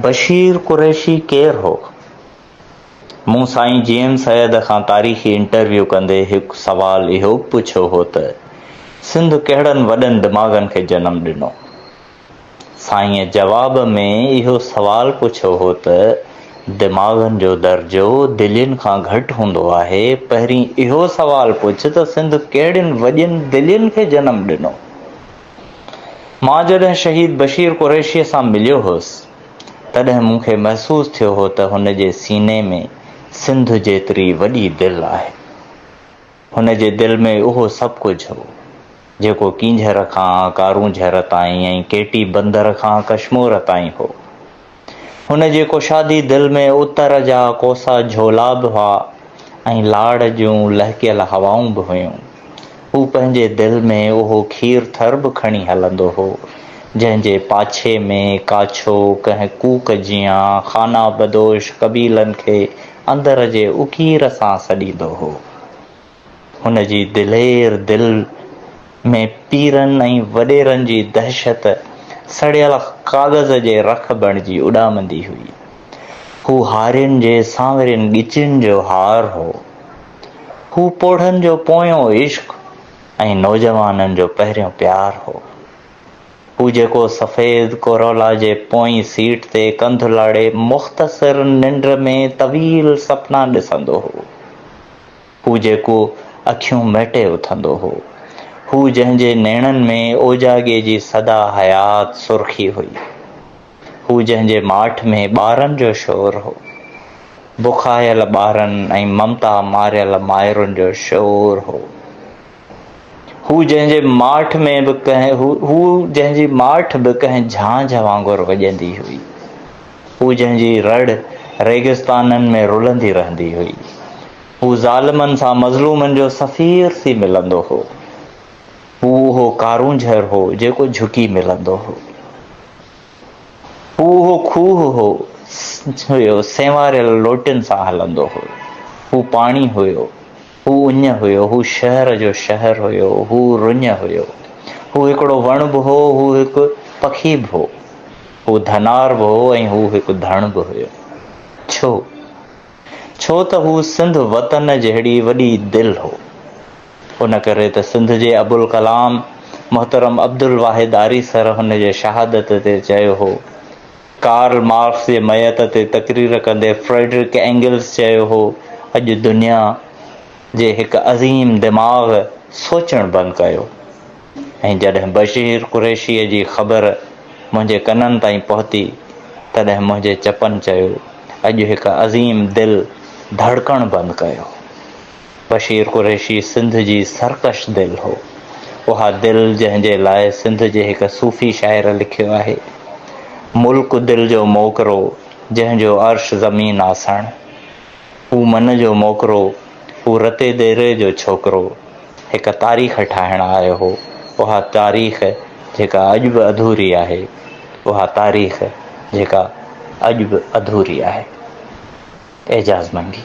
بشير قريشي ڪير هو؟ مون سائين جي ايم سيد کان تاريخي انٽرويو ڪندي هڪ سوال اهو به پڇيو هو ته سنڌ ڪهڙن وڏن دماغن کي جنم ڏنو؟ سائينء جواب ۾ اهو سوال پڇيو هو ته دماغن جو درجو دلين کان گهٽ هوندو آهي، پهرين اهو سوال پڇ ته سنڌ ڪهڙين وڏين دلين کي جنم ڏنو؟ مان جڏهن شهيد بشير قريشيء سان مليو هوس، تڏهن مون کي محسوس ٿيو هو ته هن جي سيني ۾ سنڌ جيتري وڏي دل آهي. هن جي دل ۾ اهو سڀ ڪجهه هو، جيڪو ڪينجهر کان ڪارونجهر تائين ۽ ڪيٽي بندر کان ڪشمور تائين هو. هن جي ڪشادي دل ۾ اتر جا ڪوسا جهولا به هئا ۽ لاڙ جون لهڪيل هوائون به هيون. هو پنهنجي دل ۾ اهو کير ٿر به کڻي هلندو هو، جنهن جي پاڇي ۾ ڪاڇو ڪنهن ڪوڪ جيان خانابدوش قبيلن کي اندر جي اڪير سان سڏيندو هو. هن جي دلير دل ۾ پيرن ۽ وڏيرن جي دهشت سڙيل ڪاغذ جي رک بڻجي اڏامندي هئي. هو هارين جي سانورين ڳچين جو هار هو. هو پوڙهن جو پويون عشق ۽ نوجوانن جو پهريون پيار هو. هو جيڪو سفيد ڪورولا جي پوئين سيٽ تي ڪنڌ لاڙي مختصر ننڊ ۾ طويل سپنا ڏسندو هو. هو جيڪو اکيون مهٽي اٿندو هو. هو جنهن جي نيڻن ۾ اوجاڳي جي سدا حيات سرخي هئي. هو جنهن جي ماٺ ۾ ٻارن جو شور هو. بکايل ٻارن ۽ ممتا ماريل مائرن جو شور هو. هو جنهن جي ماٺ ۾ به ڪنهن هو جنهن جي ماٺ به ڪنهن جھانجھ وانگر وڄندي هئي هو جنهن جي رڙ ريگستانن ۾ رلندي رهندي هئي هو ظالمن سان مظلومن جو سفير ٿي ملندو هو هو اهو ڪارونجھر هو جيڪو جھڪي ملندو هو هو اهو کوهه هو هيو سيواريل لوٽن سان هلندو هو هو پاڻي هيو هو اڃ هيو، هو شهر جو شهر هيو، هو رڃ هيو، هو هڪڙو وڻ به هو، هو هڪ پکي به هو، هو ڌنار به هو ۽ هو هڪ ڌڻ به هيو. ڇو؟ ڇو ته هو سنڌ وطن جهڙي وڏي دل هو. ان ڪري ته سنڌ جي ابوالڪلام محترم عبدالواحد آريسر هن جي شهادت تي چيو هو ڪارل مارڪس جي ميت تي تقرير ڪندي فريڊرڪ اينگلز چيو هو، اڄ دنيا جي هڪ عظيم دماغ سوچڻ بند ڪيو ۽ جڏهن بشير قريشيء جي خبر منهنجي ڪنن تائين پهتي تڏهن منهنجي چپن چيو، اڄ هڪ عظيم دل ڌڙڪڻ بند ڪيو. بشير قريشي سنڌ جي سرڪش دل هو. اها دل جنهن جي لاء سنڌ جي هڪ صوفي شاعر لکيو آهي. ملڪ دل جو موڪرو جنهن جو عرش زمين آسڻ. هو من جو موڪرو، هو رتي ديري جو ڇوڪرو هڪ تاريخ ٺاهڻ آيو هو. اها تاريخ جيڪا اڄ به اڌوري آهي. اها تاريخ جيڪا اڄ به اڌوري آهي. اعجاز منگي.